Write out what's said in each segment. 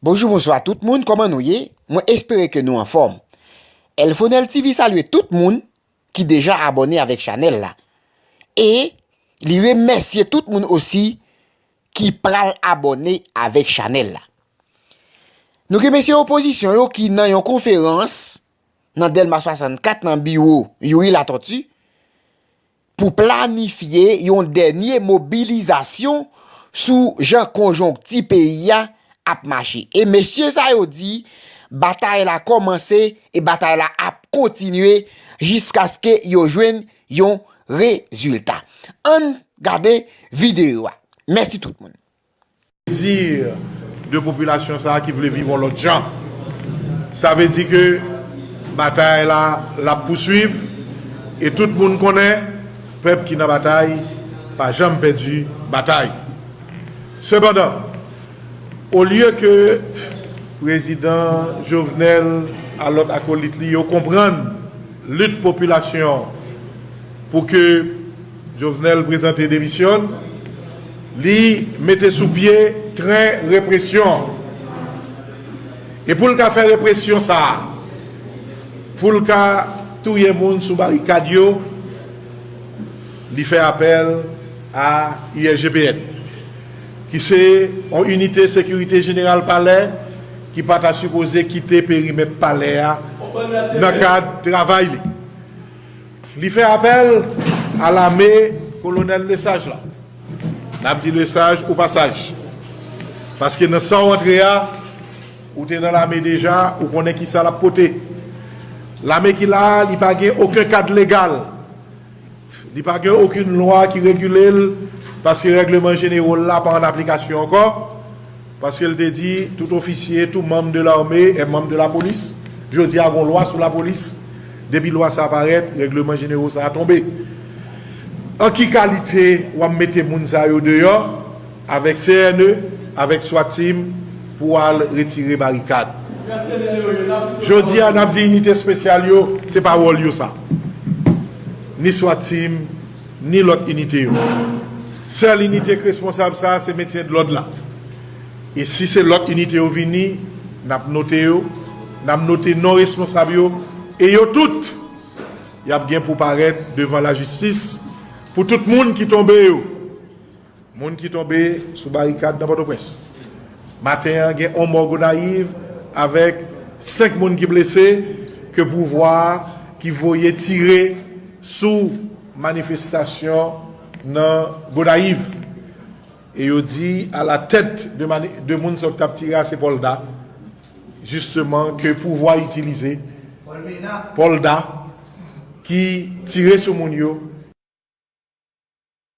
Bonjou bonswa tout moun kòman nou ye mwen espere ke nou anfòm Elfonel TV salye tout moun ki deja abòne avèk chanèl la e li remèsye tout moun osi ki pral abòne avèk chanèl la Nou gen mesye opozisyon yo ki nan yon konferans nan dèlma 64 nan biwo Youri Latortue pou planifye yon dènye mobilizasyon sou jan konjonkti peyi a ap mache. E mesye sa yo di batay la kòmanse e batay la ap kontinye jiskaske yo jwenn yon rezilta. Ann gade videyo a. Mèsi tout moun. Dezir de popilasyon sa a ki vle viv on lòt jan. Sa vle di ke batay la l ap pousuiv e tout moun konnen pèp ki nan batay pa janm pèdi batay. Sepandan, olye ke Prezidan Jovenel a lòt akolit li yo konprann lit popilasyon pou ke Jovenel prezante demisyon n, li mete sou pye tren represyon an. E pou l ka fè represyon sa a, pou l ka touye moun sou barikad yo, li fè apèl a USGPN, ki se yon inite sekirite jeneral palè ki pa ta sipoze kite perimèt palè a nan kad travay li. Li fè apèl a lame kolonèl Lesaj la. N ap di Lesaj ou pa saj. Paske nan sa w antre a, ou te nan lame deja, ou konnen ki sa l ap pote. Lame ki la a, li pa gen oken kad legal. Li pa gen okenn lwa ki regile l, paske règleman jenero l la pa an aplikasyon ankò. Paske l te di, tout ofisye, tout manm de lame è manm de lapolis. Jodi a gon lwa sou lapolis. Depi lwa sa a parèt, règleman jenero sa a tonbe. An ki kalite w ap mete moun sa yo deyò avèk CNE, avèk swat team pou al retire barikad? Jodi a n ap di inite espesyal yo, se pa wòl yo sa. Ni swat team. ni lòt inite yo. Sèl inite k responsab sa a se metyen dlòd la. E si se lòt inite yo vini, n ap note yo, n ap note non responsab yo e yo tout y ap gen pou parèt devan lajistis pou tout moun ki tonbe yo. Moun ki tonbe sou barikad nan Pòtoprens maten an gen 1 mò Gonayiv avèk 5 moun ki blese ke pouvwa a ki voye tire sou manifestasyon nan Gonayiv e yo di a la tèt de moun sa yo ki tap tire a se Polda jisteman ke pouvwa a itilize Polda ki tire sou moun yo.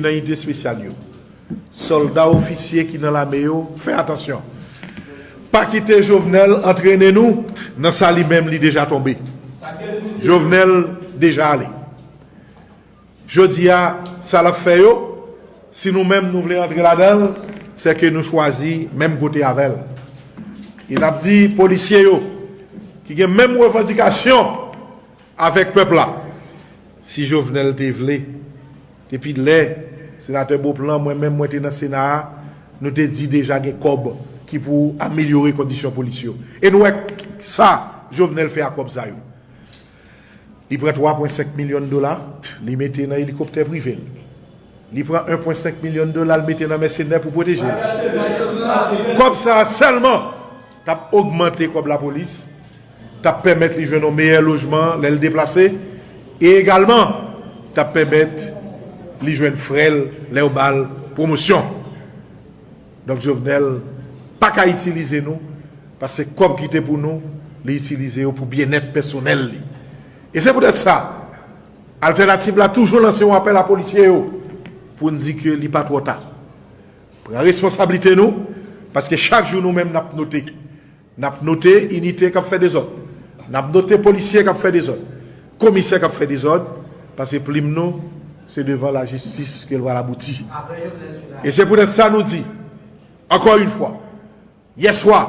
nan inite espesyal yo solda ofisye ki nan lame yo fè atansyon pa kite jovenel antrene nou nan sa li menm li deja tonbe jovenel deja ale. Jodi a, sa l ap fè yo, si nou menm nou vle antre ladan l, sè ke nou chwazi menm kote avè l. E n ap di polisye yo, ki gen menm revandikasyon avèk pèp la, si Jovenel te vle, depi lè Senatè Beauplan, mwen menm mwen te nan Sena a, nou te di deja gen kòb ki pou amelyore kondisyon polis yo. E nou wè sa Jovenel fè ak kòb sa yo. Li pran 3 pwen 5 milyon dola li mete nan elikoptè prive l. Li pran 1 pwen 5 milyon dola l mete nan mèsenè pou pwoteje l. Kòb sa a sèlman t ap ogmante kòb lapolis, t ap pèmèt li jwenn yon meyè lojman lè l deplase e egalman t ap pèmèt li jwenn frè l lè yo ba l pwomosyon. Donk Jovenel paka itilize nou paske kòb ki te pou nou li itilize yo pou byennèt pèsonèl li. E se poutèt sa Altènativ la toujou lanse yon apèl a polisye yo pou n di ke li pa twò ta. Pran responsablite nou paske chak jou nou menm n ap note. N ap note inite k ap fè dezòd, n ap note polisye k ap fè dezòd, komisè k ap fè dezòd, pase plim nou se devan lajistis ke l pral abouti. E se poutèt sa nou di, ankò yon fwa, yèswa,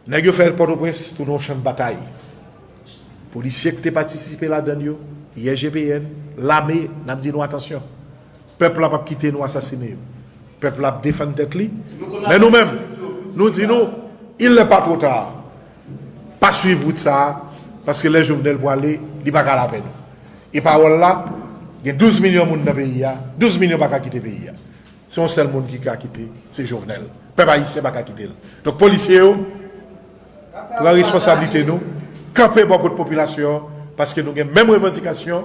nèg yo fè l Pòtoprens tounen yon chan batay. Polisye k te patisipe ladan l yo, yè GPN, lame, n ap di nou atansyon. Pèp la pap kite nou asasine yo. Pèp la ap defann tèt li. Men nou menm, nou di nou, il nè pa two ta. Pa swiv wout sa a, paske lè Jovenel pwale, li pa ka al avè nou. E pawòl la, gen 12 milyon moun nan peyi a, 12 milyon pa ka kite peyi a. Se yon sèl moun ki ka kite, se Jovenel. Pèp ayisyen pa ka kite l. Donk polisye yo, pran responsablite nou, kanpe bò kot popilasyon an, paske nou gen menm revandikasyon.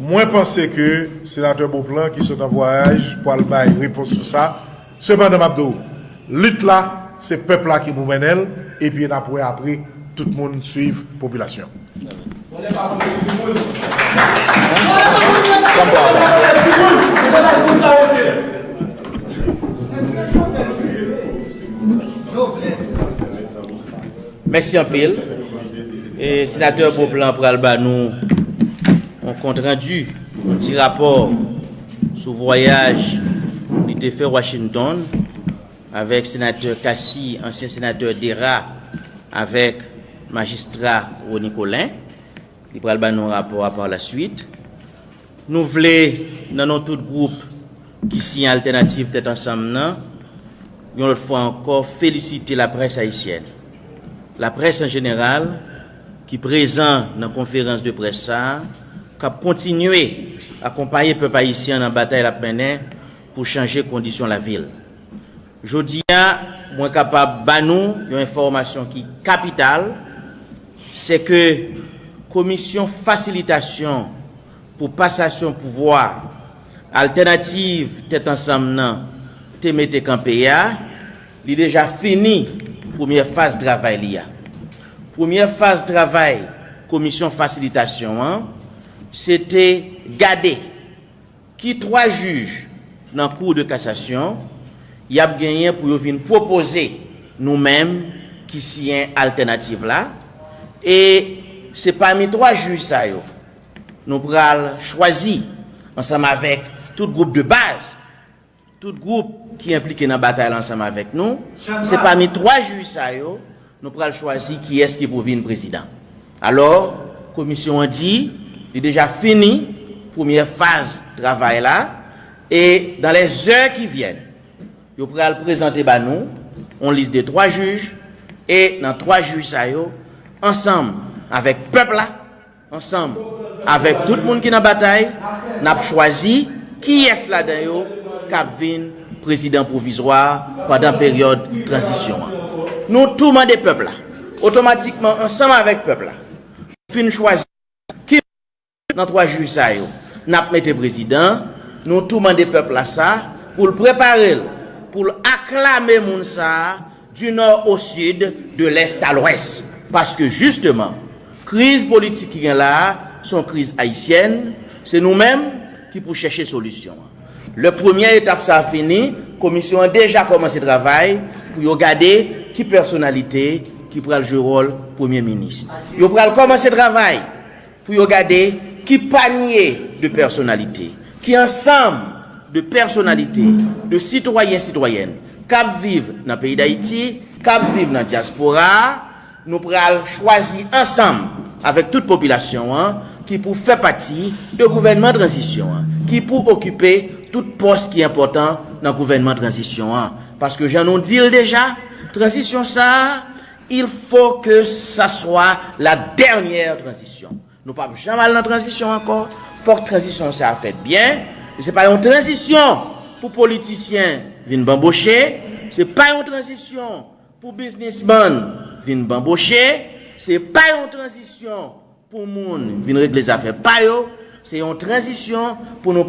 Mwen panse ke Senatè Beauplan ki sot an vwayaj pwal bay repons sou sa. Sepandan map di w, lit la se pèp la ki pou mennen l epi nap wè apre tout moun swiv popilasyon. Mèsi anpil. Senatè Beauplan pral ba nou yon kont randu, yon ti rapò sou vwayaj li te fè Washington avèk Senatè Cassy, ansyen Senatè Dera avèk Majistra Rony Colin. Li pral ba nou rapò a par la suite. Nou vle, nan non tout gwoup ki siyen Altènativ Tèt Ansanm nan, yon lòt fwa ankò felisite laprès ayisyèn, laprès an jeneral, ki prezan nan konferans de près sa a, k ap kontinye akonpaye pèp ayisyen an nan batay l ap mennen pou chanje kondisyon lavi l. Jodi a, mwen kapab ba nou yon enfòmasyon ki kapital, se ke Komisyon Fasilitasyon pou Pasasyon Pouvwa Altènativ Tèt Ansanm nan te mete kanpe a, li deja fini premyè faz travay li a. Premyè faz travay Komisyon Fasilitasyon an, se te gade. Ki 3 jij nan Cour de Cassation y ap genyen pou yo vin pwopoze nou menm ki siyen altènativ la e se pami 3 jij sa yo nou pral chwazi ansanm avèk tout gwoup de baz Tout gwoup ki enplike nan batay la ansanm avèk nou. Se pami 3 jij sa yo nou pral chwazi kiyès ki pou vin prezidan. Alò, komisyon an di li deja fini premyè faz travay la e dan lè zè ki vyèn yo pral prezante ba nou yon lis de 3 jij e nan 3 jij sa yo ansanm avèk pèp la, Ansanm avèk tout moun ki nan batay, n ap chwazi kiyès ladan yo k ap vin prezidan pwovizwa a pandan peryòd tranzisyon an. Nou tou mande pèp la, otomatikman ansanm avèk pèp la, pou fin chwazi ki moun nan twa jij sa yo n ap mete prezidan. Nou tou mande pèp la sa pou l prepare l pou l aklame moun sa a Du nord au sud, de l'est à l'ouest. Paske jisteman, kriz politik ki gen la a, se yon kriz ayisyèn, se nou menm ki pou chèche solisyon an. Lè premyè etap sa a fini, komisyon an deja kòmanse travay pou yo gade ki pèsonalite ki pral jwe wòl premye minis. Yo pral kòmanse travay! Pou yo gade ki panye de pèsonalite, ki ansanm de pèsonalite, de sitwayen, sitwayèn k ap viv nan peyi Dayiti, k ap viv nan dyaspora a, nou pral chwazi ansanm avèk tout popilasyon an ki pou fè pati de gouvènman tranzisyon an, ki pou okipe tout pòs ki enpòtan nan gouvènman tranzisyon an. Paske jan nou di l deja, tranzisyon sa a, Il faut que sa swa la dernière transition. Nou pap janm al nan transition ankò, fòk transition sa a fèt byen. Se pa yon transition pou politisyen vin banboche, se pa yon transition pou biznisman vin banboche, se pa yon transition pou moun vin regle zafè pa yo, se yon transition pou nou.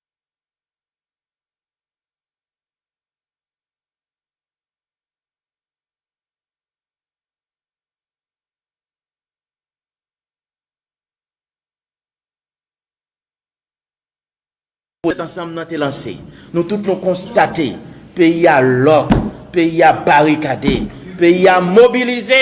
Pou tèt ansanm nan te lanse. Nou tout nou konstate peyi a lòk, peyi a barikade, peyi a mobilize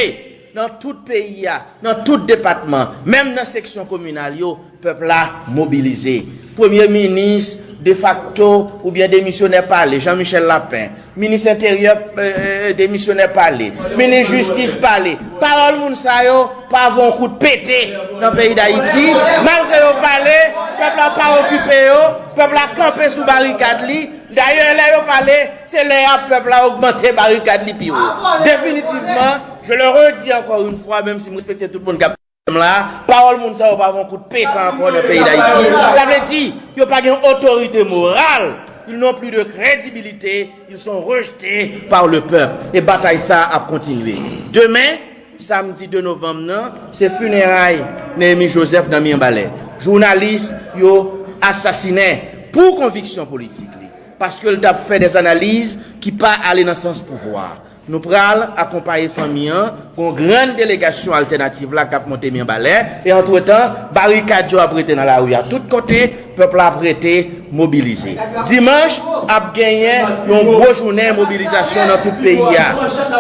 Nan tout peyi a, nan tout depatman, menm nan seksyon kominal yo, pèp la mobilize. Premye minis defakto oubyen demisyonè pale, Jean Michel Lapin. Minis enteryè demisyonè pale. Minis jistis pale. Pawòl moun sa yo pa vo yon kout pete nan peyi Dayiti. Malgre yo pale, pèp la pa okipe yo. Pèp la kanpe sou barikad li. Dayè, lè yo pale, se lè a pèp la ogmante barikad li pi wo. Definitivman. Je le redis encore une fois, menm si m respekte tout moun kap tande m la, pawòl moun sa yo pa vo kout peka ankò nan peyi Dayiti. Sa vle di, yo pa gen otorite moral, ils n'ont plus de credibilité, ils sont rejetés par le peuple. E batay sa ap kontinye. Demen, samdi 2 novanm nan, se fineray Néhémi Joseph nan Mirbalè. Jounalis yo asasinen pou konviksyon politik li, paske l tap fè des analyses ki pa ale nan sans pouvwa. Nou pral akonpaye fanmi an, gen yon grann delegasyon altènativ la k ap monte Mirbalè, e antretan, barikad yo ap rete nan lari a tout kote, pèp la ap rete mobilize. Dimanch, ap genyen yon gwo jounen mobilizasyon nan tout peyi a,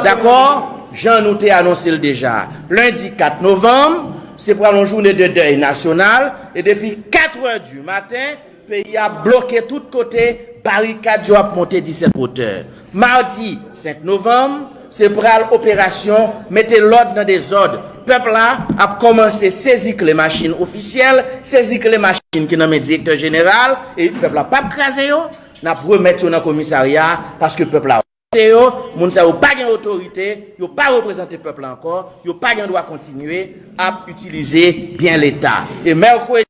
dakò, jan nou te anonse l deja. Lendi 4 novanm, se pral yon jounen de dèy nasyonal, e depi katrè di maten, Peyi a bloke tout kote, barikad yo ap monte 17 wotè. Madi 5 novanm, se pral operasyon mete lòd nan dezòd. Pèp la ap kòmanse sezi kle machin ofisyèl, sezi kle machin ki nan men direktè jeneral, e pèp la pap kraze yo, n ap remèt yo nan komisarya a, paske pèp la vote yo, moun sa yo pa gen otorite, yo pa reprezante pèp la ankò, yo pa gen dwa kontinye ap itilize byen leta. E mèkredi.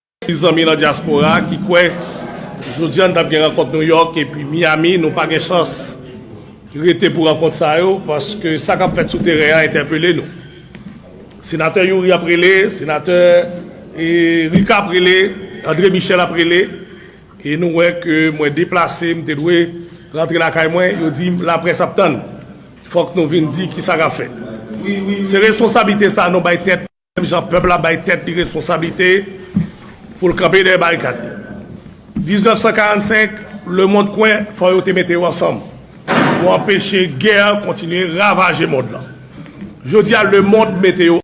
Ti zanmi nan dyaspora ki kwè jodi an n t ap gen rankont Nouyòk epi Miyami, nou pa gen chans rete pou rankont sa yo paske sa k ap fèt sou teren an entèpele nou. Senatè Youri ap rele, Senatè Rika ap rele, Andre Michel ap rele e nou wè ke mwen deplase m te dwe rantre lakay mwen, yo di m laprès ap tann fòk nou vin di kisa k ap fèt. Se responsablite sa nou bay tèt. Menm jan pèp la bay tèt li responsablite pou l kanpe dèyè barikad li. 1945, lemond kwen fò yo te mete yo ansanm pou anpeche gè kontinye ravaje mond lan. Jodi a lemond mete yo.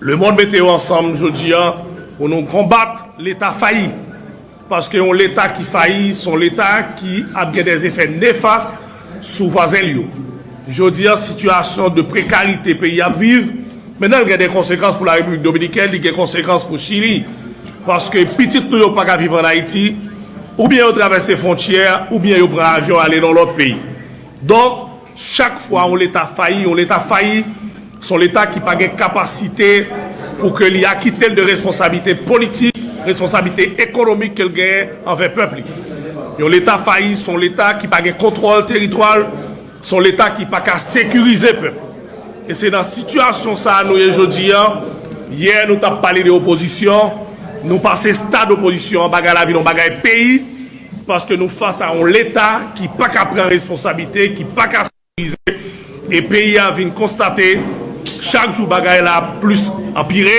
Le mond mete yo ansanm jodi a pou nou konbat leta fayi. Paske yon leta ki fayi son leta ki ap gen dè efè nefas sou vwazen l yo. Jodi a sitiyasyon de prekarite peyi ap viv mennan l gen dè konsekans pou la Repiblik Dominikèn, li gen konsekans pou Chili. Paske pitit nou yo pa ka viv an Ayiti, oubyen yo travèse fwontyè oubyen yo pran avyon ale nan lòt peyi. Donk. Chak fwa yon leta fayi, yon leta fayi, se yon leta ki pa gen kapasite pou ke li akite l de responsablite politik, responsablite ekonomik ke l genyen anvè pèp li. Yon leta fayi, se yon leta ki pa gen kontwòl teritwa l, se yon leta ki pa ka sekirize pèp. E se nan sitiyasyon sa a nou ye jodi a, yè nou t ap pale de opozisyon, nou pase stad opozisyon an, bagay la vin yon bagay peyi, Paske nou fas a yon leta ki pa ka pran responsabilite, ki pa ka sekirize, e peyi a vin konstate chak jou bagay la ap plis anpire,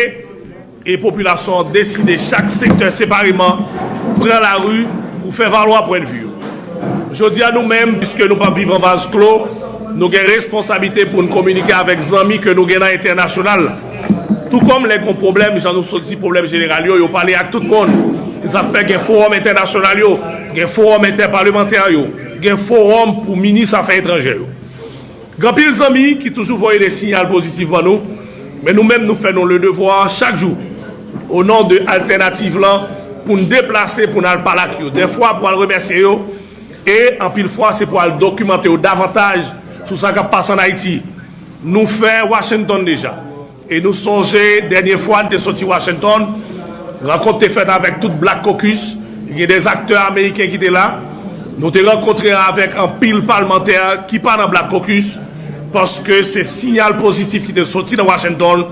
e popilasyon an deside chak sektè separeman pran lari pou fè valwa pwendvi yo. Jodi a nou menm, piske nou pap viv an vaz klo, nou gen responsabilite pou n kominike avèk zanmi ke nou gen nan entènasyonal la. Tou kòm lè gon pwoblèm, jan nou sot di pwoblèm jeneral yo, yo pale ak tout moun. Sa fè gen fowòm entènasyonal yo, gen fowòm entèpalemantè yo, gen fowòm pou minis afè etranjè yo. Gen anpil zanmi ki toujou voye de siyal pozitif ban nou, men nou menm nou fè nou le devwa chak jou o non de altènativ lan pou n deplase pou n al pale ak yo, dèfwa pou al remèsye yo e anpil fwa se pou al dokimante yo davantaj sou sa k ap pase an Ayiti. Nou fè Washington deja. E nou sonje dènye fwa n te soti Washington, rankont te fèt avèk tout Black Caucus, gen dè aktè ameriken ki te la. Nou te rankontre avèk anpil palmantè ki pa nan Black Caucus, paske se siyal pozitif ki te soti nan Washington.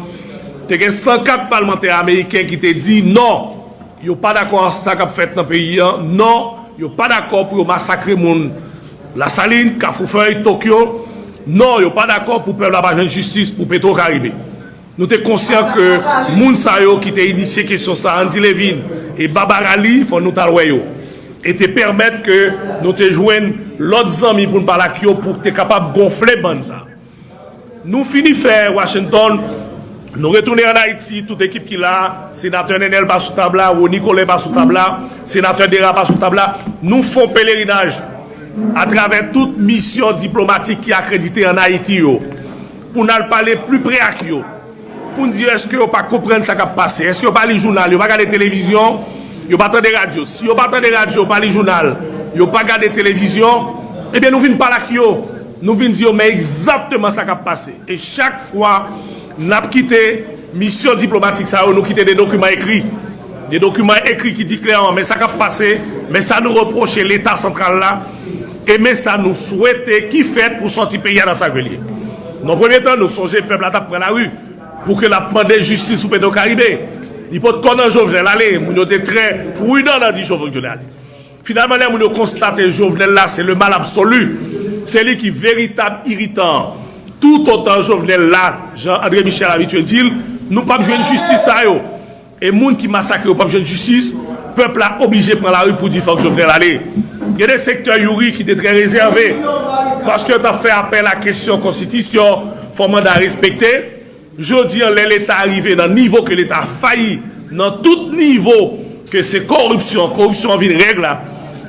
Te gen 104 palmantè ameriken ki te di non. Yo pa dakò ak sa kap fèt nan peyi an non, yo pa dakò pou yo masakre moun Lasalin, Kafoufèy, Tokyo non, yo pa dakò pou pèp la pa jwenn jistis pou Petro Karibe. Nou te konsyan ke moun sa yo ki te inisye kesyon sa, Andy Levine e Barbara Lee, fò nou tal wè yo e te pèmèt ke nou te jwenn lòt zanmi pou n pale ak yo pou te kapab gonfle bann sa. Nou fini fè Washington, nou retounen an Ayiti, tout ekip ki la, Senatè Nènèl pa sou tab la, Rony Colin pa sou tab la, Senatè Dera pa sou tab la, nou fon pelerinaj atravè tout misyon diplomatik ki akredite an Ayiti yo, pou n al pale pli pre ak yo. Bondye eske yo pa konprann sa kap pase eske yo pa li jounal yo pa gade televizyon yo pa tande radyo si yo pa tande radyo pa li jounal yo pa gade televizyon ebyen nou vin pale ak yo nou vin di yo men egzatteman sa kap pase e chak fwa nap kite misyon diplomatik sa yo nou kite de dokiman ekri. Gen dokiman ekri ki di klèman men sa k ap pase, men sa nou repwoche Leta santral la e men sa nou swete ki fèt pou sòti peyi a nan sa ke l ye. Nan premye tan, nou sonje pèp la t ap pran lari pou ke l ap mande jistis pou Petwokaribe. Li pot kò nan Jovenel ale. Moun yo te trè prudan nan di Jovengle ale. Finalman, lè moun yo konstate Jovenel la se le mal absolu, se li ki veritab iritan an. Toutotan Jovenel la, jan Andre Michel abitye di l, nou p ap jwenn jistis sa yo. E moun ki masakre yo pap jwenn jistis, pèp la oblije pran lari pou di fòk Jovenel ale. Gen de sektè Youri ki te trè rezève, paske yo tap fè apèl a kesyon konstitisyon, fò manda respekte. Jodi an lè leta rive nan nivo ke leta fayi nan tout nivo, ke se koripsyon, koripsyon an vin règ la,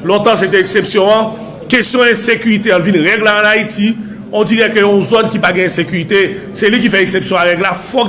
lontan se te eksepsyon an, kesyon ensekirite an vin règ la an Ayiti, on dirè ke yon zòn ki pa gen ensekirite, se li ki fè eksepsyon a règ la, fòk.